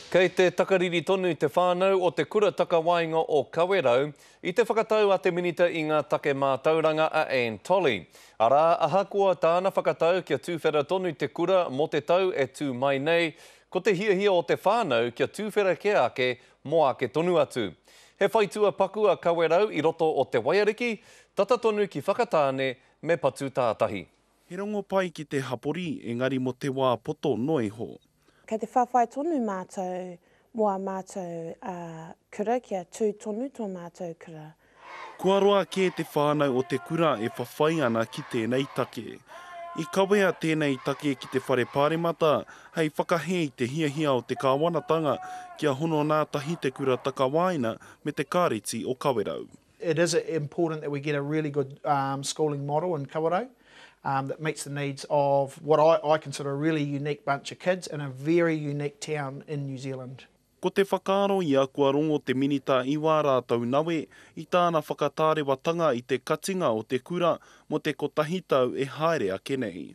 Kei te takariri tonu te whānau o Te Kura Takawaenga o Kawerau i te whakatau a te Minita i ngā Take Mātauranga a Anne Tolley, arā, ahakoa tāna whakatau kia tuwhera tonu te kura mō te tau e tū mai nei, ko te hiahia o te whānau kia tuwhera kē ake mō ake tonu atu. He whaitua paku a Kawerau i roto o Te Waiariki, tata tonu ki Whakatāne me Patutātahi. He rongo pai ki te hapori, engari mo te wā poto noa iho. Kei te whawhai tonu mātou mō ā mātou kura kia tū tonu tō mātou kura. Kua roa kē te whānau o te kura e whawhai ana ki tēnei take. I kawea tēnei take ki te Whare Pāremata hei whakahē i te hiahia o te kāwanatanga kia hono nā tahi te kura takawaena me te Kāreti o Kawerau. It is important that we get a really good schooling model in Kawerau that meets the needs of what I consider a really unique bunch of kids in a very unique town in New Zealand. Ko te whakaaro ia kua rongo te Minita i wā rātou nawe i tāna whakatārewatanga i te katinga o te kura mō te kotahi tau e haere ake nei.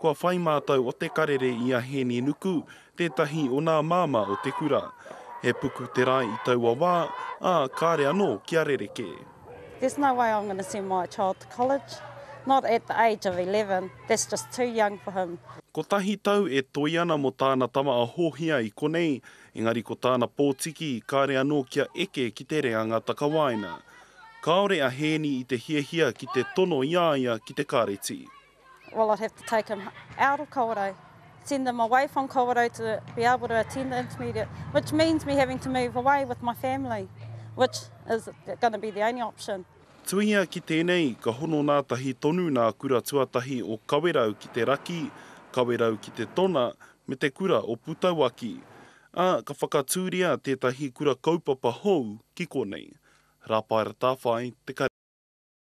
Kua whai mātou o Te Karere i a Hēni Nuku, tētahi o nā māmā o te kura. He puku te rae i taua wā, ā, kāre anō kia rerekē. There's no way I'm gonna send my child to college, not at the age of eleven, that's just too young for him. Kotahi tau e toe ana mo tāna tama a Hōhia i konei, engari ko tāna pōtiki, kāre anō kia eke ki te reanga takawaena. Kāore a Hēni i te hiahia ki te tono i a ia ki te kāreti. Well I'd have to take them out of Kawerau, send them away from Kawerau to be able to attend the intermediate, which means me having to move away with my family, which is going to be the only option. Tuhia ki tēnei, ka hono nātahi tonu nā kura tuatahi o Kawerau ki te raki, Kawerau ki te tona, me te kura o Putauaki. Ā, ka whakatūria tētahi kura kaupapa hou ki konei. Rāpaera Tāwhai, Te Kare.